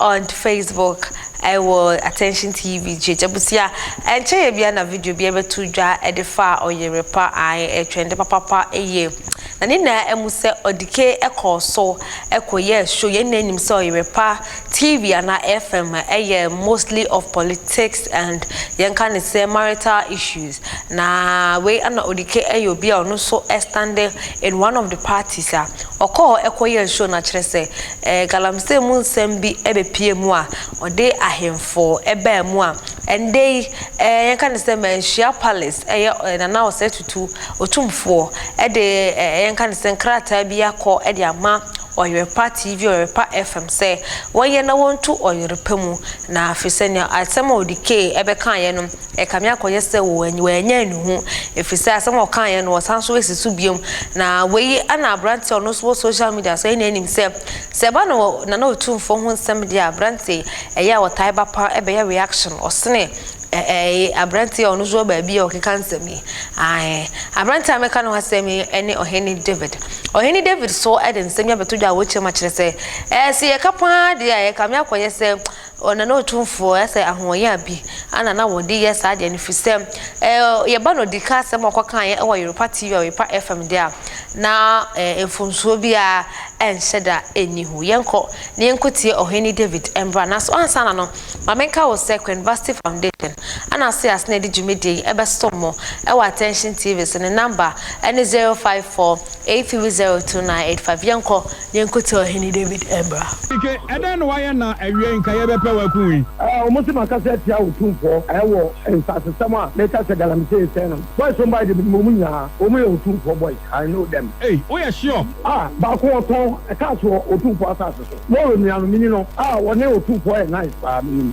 On Facebook, ɛwɔ Attention TV GH abusua. Ɛnkyɛ yɛ bia na video bia bɛto dwa ɛde fa ɔyere pa ae ɛtwɛn de papapa ɛyɛ. Na ne nyinaa ɛmu sɛ ɔdike ɛkɔɔ so ɛkɔ yɛ show yɛn nyinaa nim sɛ ɔyere pa TV anaa FM ɛyɛ mostly of politics and yɛn ka ne sɛ marital issues. Na wei ɛna ɔdike ɛyɛ obi a ɔno nso ɛstande in one of the parties a ɔkɔɔ ɛkɔ yɛ show na kyerɛ sɛ Galamsey mu nsɛm bi bepue mu a ɔde ahemfo baa mu a, ɛndɛ yi yɛka no sɛ Manhyia Palace, ɛyɛ Nana Osei Tutu Otumfoɔ de yɛka no sɛ nkrataa bi akɔ de ama Ɔyerepa TV, Ɔyerepa FM sɛ wɔnyɛ na wɔntu Ɔyerepa mu na afei sɛ nea asɛm a ɔde key bɛkaeɛ no, Ɛkame akɔyɛ sɛ wɔanya nnuho efisɛ asɛm a ɔkaeɛ no wɔsan so asi so biom. Na wei na aberanteɛ a ɔno nso wɔ social media so ɛna anim sɛ sɛ ɛba no Nana Otumfoɔ ho nsɛm deɛ a aberanteɛ ɛyɛ a wɔtae ba pa bɛyɛ reaction ɔsene ɛɛ aberanteɛ a ɔno nso wɔ baabi a ɔkeka nsɛm yi. Ae, aberanteɛ a meka no ho asɛm yi ɛne Ɔhene David. Ɔhene David so ɛde nsɛm yi abɛto dwa a wɔkyerɛ mu akyerɛ sɛ ɛɛ sɛ yɛka paa deɛ a ɛkame akɔyɛ sɛ Ɔ na na Otumfoɔ ɛ sɛ ahoɔyen a bi a na na wɔde yɛ saa adeɛ no firi sɛ ɛ yɛ ba no dika asɛm a ɔkɔkaeɛ wɔ Yorupa TV a Yorupa FM deɛ a na ɛ mfomsoɔ bi a ɛnhyɛ da nni ho. Yɛnkɔ na yɛnkɔ tie Ɔhene David mmra. Nanso ansa na no ma menka wo sɛ Queen Vasti Foundation ɛ na ase ase na ɛde dwumadie yi ɛbɛsom mo ɛwɔ Attention TV so ne number ɛ ne 054 8302 na yɛde fa Yɛnkɔ, Yɛnkɔ Tia Ɔhene Dawid Mmara. Ike, ɛdɛn na wayɛ na awiei nka yɛbɛpɛ wo akum yi? Ɛ, wɔse makasa atia wo tumfoɔ ɛ wɔ nsasesɛm a meka sɛ galamsey nsɛe no ho. Boys wɔn bae de menim wɔn nyinaa, wɔn yɛ otumfoɔ boys, I know them. Ei, woyɛ sure? A, baako ɔtɔn cars wɔ otumfoɔ asase so, Moro nua no, menni no. A, wɔne otumfoɔ yɛ nice paa, menim.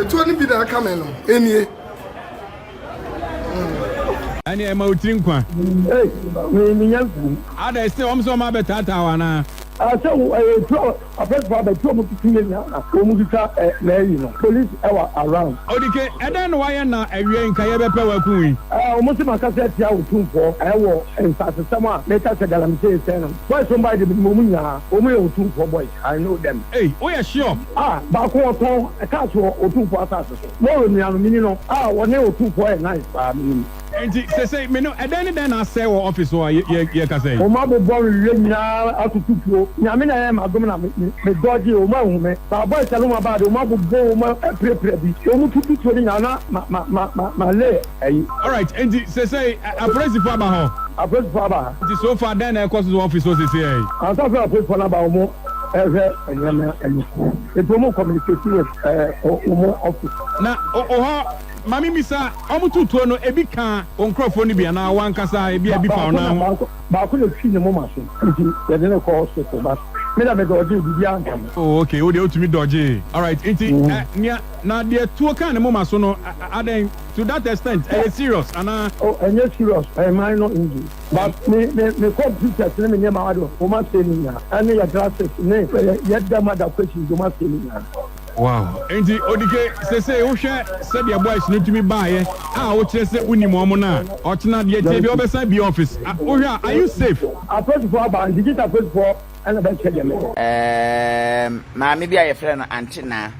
Etuo no bi na aka me no, enie. Ɛne ɛma wo tiri nkwa. Ei, me me nya nkum. Ada ɛsɛ wɔn sɛ wɔn abɛtaataa wo anaa? Asɛ wo ɛyɛ etuo apɛsifo abɛti wɔn titi yɛ nyinaa wɔn twitwa ɛ na ɛyi no police ɛwɔ around. Odike, ɛdɛn na wayɛ na ɛwiɛ yi nka yɛ bɛpɛ wɔ aku wei? Ɛɛ wɔn se ma kasa atia wo tumfoɔ ɛwɔ nsase sɛm a me ka sɛ galamsee sɛɛ no boys wɔn bae de me nim wɔn nyinaa wɔn yɛ wo tumfoɔ boy. I know them. Ei, woyɛ sure? A, baako wɔ tɔn, ɛkaa so wɔ Otumfoɔ asase so. Moro nua no, menim no. A, wɔne Otumfoɔ yɛ nice paa, menim. Enti, seesei, me no, ɛdɛn ne dɛn na asɛe wɔ office hɔ a yɛ, yɛ, yɛkasa yi? Wɔabobɔ me wiɛ nyinaa atoto tuo. Nyame na ɛyɛ m'adom na me, me, me dodge, wɔn anhu me. Saa boys a no mu abaa deɛ, wɔn abobɔ wɔn apirapira bi. Wɔn tutu tuo no nyinaa na ma, ma, ma, ma, ma lay. Ayi. Alright, enti sesei ɛ, apolisifo aba hɔ? Apolisifo aba ha. Nti so far dɛn na ɛrekɔ so wɔ office hɔ sesei ɛ? Ansa sɛ apolisifo no aba, wɔn rehwɛ nneɛma ani. Enti wɔn communicate with ɛ, wɔn office. Na o, wo hɔ, ma me mmisa, wɔn too tuo no, ebi kaa wo nkorɔfoɔ no bi anaa wo ankasa, ebia ebi fa wo nan ho? Baako na, baako na efi ne moma so, nti yɛde no kɔɔ hospital, but me deɛ me dɔɔgyee, biribiara anka me. Oh, okay, wo deɛ wotumi dɔɔgyee. Alright, enti ɛ, nea, na deɛ tuo kaa ne moma so no, a, a, adɛn? To that extent, ɛyɛ serious anaa? Oh, ɛnyɛ serious, ɛyɛ minor injury. But me, me, me computers ne me nneɛma ado, wɔn asɛe ne nyinaa, ɛne yɛ glasses ne yɛ dam ada questions, wɔn asɛe ne nyinaa. Wow, enti Odike, sesei wohwɛ sɛdeɛ boys no tumi baeɛ a wokyerɛ sɛ wonim wɔn no a, ɔkyena deɛ ɛteɛ biara wobɛsan abie office, a, wohwɛ a, are you safe? Apolisifoɔ aba, nti gyesɛ apolisifoɔ na bɛkyerɛ deɛ meyɛ. Ɛɛm, maame bi a yɛfrɛ no Ante Naa.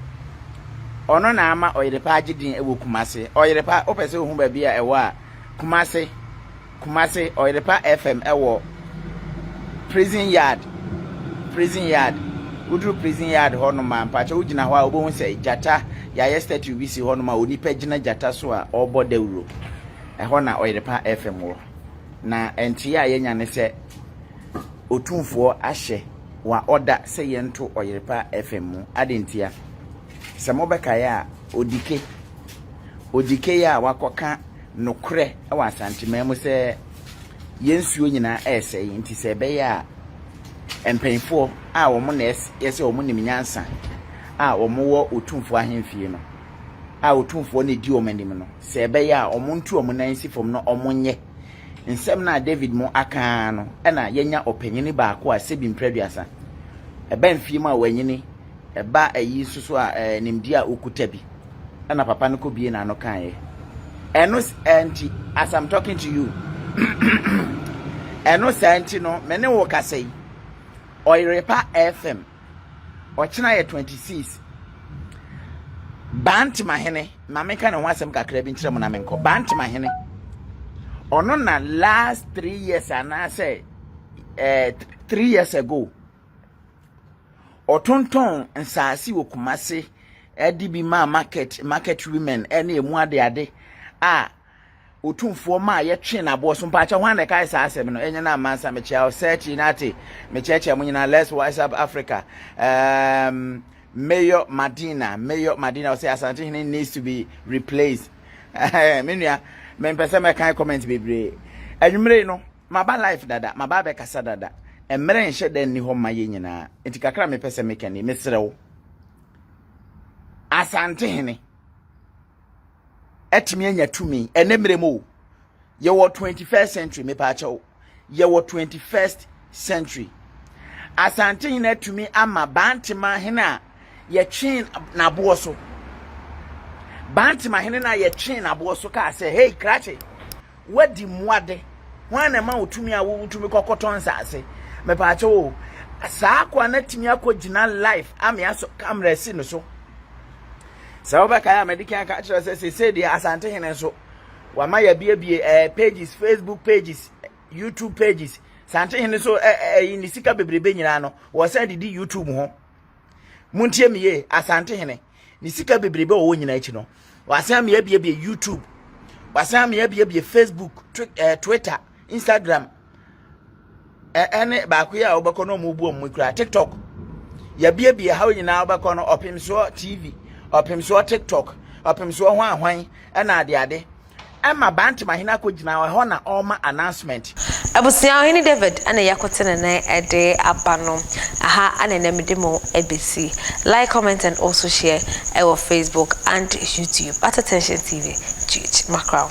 Ɔno na ama Ɔyerepa agye din wɔ Kumasi. Ɔyerepa, wopɛ sɛ wohu baabi a ɛwɔ a, Kumasi, Kumasi, Ɔyerepa FM wɔ Prison Yard, Prison Yard. Woduru Prison Yard hɔ nom a, mpakyɛ wogyina hɔ a, wobɛhu sɛ gyata, yɛayɛ statue bi si hɔ nom a onipa gyina gyata so a ɔrebɔ dawuro. Ɛhɔ na Ɔyerepa FM wɔ. Na nteɛ a yɛanya ne sɛ Otumfoɔ ahyɛ. wɔaɔda sɛ yɛnto Ɔyerepa FM mu. Adɛn ntia? Sɛ mobɛkae a, Odike, Odike yi a wakɔka nokorɛ wɔ Asanteman mu sɛ yɛn nsuo nyinaa resɛe nti sɛ ɛbɛyɛ a mpanimfoɔ a wɔn na yɛ sɛ wɔn nim nyansa a wɔn wɔ Otumfoɔ ahemfie no a Otumfoɔ na ɛdi wɔn anim no, sɛ ɛbɛyɛ a wɔn ntu wɔn nan nsi fam na wɔn nyɛ Nsɛm no a David mo aka ara no na yɛanya ɔpanyin baako a sɛbi mprɛ aduasa. Ɛba mfie mu a wanyini, ɛba ayi nso so a ɛɛ nimdeɛ a okuta bi. Ɛna papa no kɔ bie n'ano kaeɛ. Ɛno ɛɛ nti as I'm talking to you ɛno saa nti no me ne wo kasa yi Ɔyerepa FM ɔkyena yɛ twenty six bantemahene ma meka ne ho asɛm kakra bi nkyerɛ mo na menkɔ bantemahene ɔno na last three years anaasɛ eh, three years ago ɔtontɔn nsaase wɔ kumase ɛde bi maa market market women ɛne emu ade ade a Otumfoɔ maa yɛtwee n'aboɔ so. Mpaakyɛ hwan na ɛkae saa asɛm no? Ɛnyɛ na Mansa mekyea wo search inate mekyɛkyɛ mo nyinaa let's wise up Africa um, Mayor Madina Mayor Madina ɔsɛ Asante hene needs to be replaced me nua mempɛ sɛ mɛkan comment bebree anwummere no maba life dada maba abɛkasa dada mmerɛ nhyɛ dɛ nni hɔ ma yɛ nyinaa nti kakra mepɛ sɛ mekani meserɛ wo Asante hene atumi anya tumi ɛne mmerɛ mu o yɛwɔ 21st century mepaakyɛw yɛwɔ 21st century asante hene atumi ama bantema hene a yɛtwee n'aboɔ so bantema hene no a yɛtwee n'aboɔ so kaa sɛ hei krakye Woadi mmoa de, hwan na ɛma wo tumi a wotumi kɔkɔtɔ nsase? Mepaakyɛ o, saa akoa no atumi akɔgyina life ame asɔ kamera si no so. Sɛ wobɛkae a madi kan ka kyerɛ sɛ sesei deɛ Asante Hene nso wama yɛabiebie eh, pages, Facebook pages, YouTube pages. Sante Hene so ɛyi eh, eh, ne sika bebrebe nyinaa no, wɔsan de di YouTube ho. montie me yie asante hene ne sika bebrebe a ɔwɔ nyinaa akyi no wasan me abiebie youtube wasan me abiebie facebook eh, twitter instagram ɛne eh, eh, baako yi a wobɛkɔ no ɔmo bu ɔmo kura tiktok yɛabiebie ha nyinaa wobɛkɔ no ɔpem soɔ tv ɔpem soɔ tiktok ɔpem soɔ ho ahwan ɛna adeade Ɛma Bantemahene akɔgyina ɛhɔ na ɔrema announcement. Abusua, Ɔhene David na ɛyɛ akote ne nan de aba no. Aha na ɛnɛ mede mo bɛsi. Like, comment and also share ɛwɔ Facebook and YouTube at Attention TV GH Mackerel.